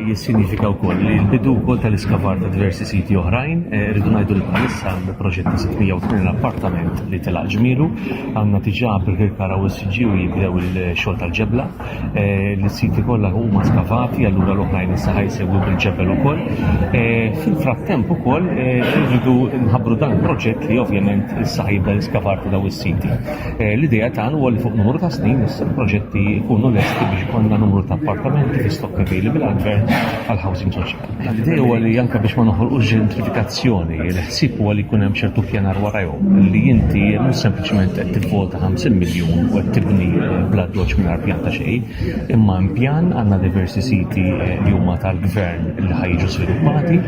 jissinifika wkoll li l-bidu wkoll tal-iskavar ta' diversi siti oħrajn, eh, rridu ngħidu li bħalissa għandu proġett ta' 680 appartament li telaq ġmielu, għandna tiġà Birkirkara u s-siġi u jibdew il-xogħol tal-ġebla, eh, l-siti kollha huma skavati, allura l-oħrajn issa ħajsegwu bil-ġebel ukoll. Eh, fil-frattemp ukoll rridu nħabbru dan il-proġett li ovvjament issa ħajibda l-iskavar ta' daw is-siti. Eh, l-idea tagħna huwa li fuq numru ta' snin issa l-proġetti jkunu lesti biex ikollna numru ta' appartamenti fi stock available għall-gvern għall-housing soċjali. L-idea huwa li anke biex ma noħolqux ġentrifikazzjoni, il-ħsieb huwa li jkun hemm ċertu pjanar warajhom li inti mhux sempliċement qed tivvota 50 miljun u qed tibni eh, bla doċ mingħajr pjan ta' xejn, imma pjan għandna diversi siti eh, li huma tal-gvern li ħajġu sviluppati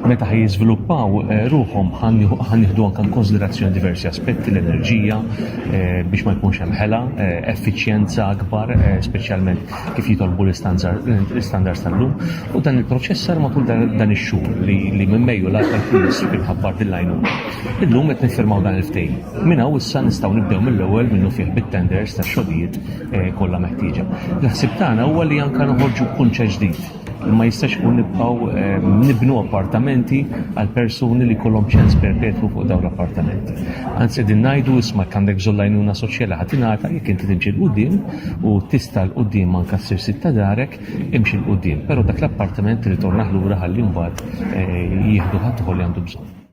meta ħaj jiżviluppaw eh, ruħhom ħan jieħdu anke konsiderazzjoni diversi aspetti l-enerġija eh, biex ma jkunx hemm ħela, eh, effiċjenza akbar, speċjalment kif jitolbu l-istandards tal-lum. U dan il-proċess sar matul dan ix-xhur li minn Mejju l tal-Ministru kien ħabbar dil-lajnu. Illum qed nifirmaw dan il-ftehim. Minn hawn issa nistgħu nibdew mill-ewwel minnu fih bit-tenders tax-xogħlijiet kollha meħtieġa. L-ħsib tagħna huwa li anke noħorġu kunċe ġdid ma jistax ikun nibqgħu eh, nibnu appartamenti għal persuni li kollhom ċens perpetwu fuq dawn l-appartamenti. Anzi din ngħidu isma' għandek żollajnuna soċjali ħadd ingħata jekk inti timxi l-qudiem u tista' l qudiem anke ssir sitta darek imxi l qudiem però dak l-appartament ritornaħ lura ħalli mbagħad eh, jieħdu ħadd li għandu bżonn.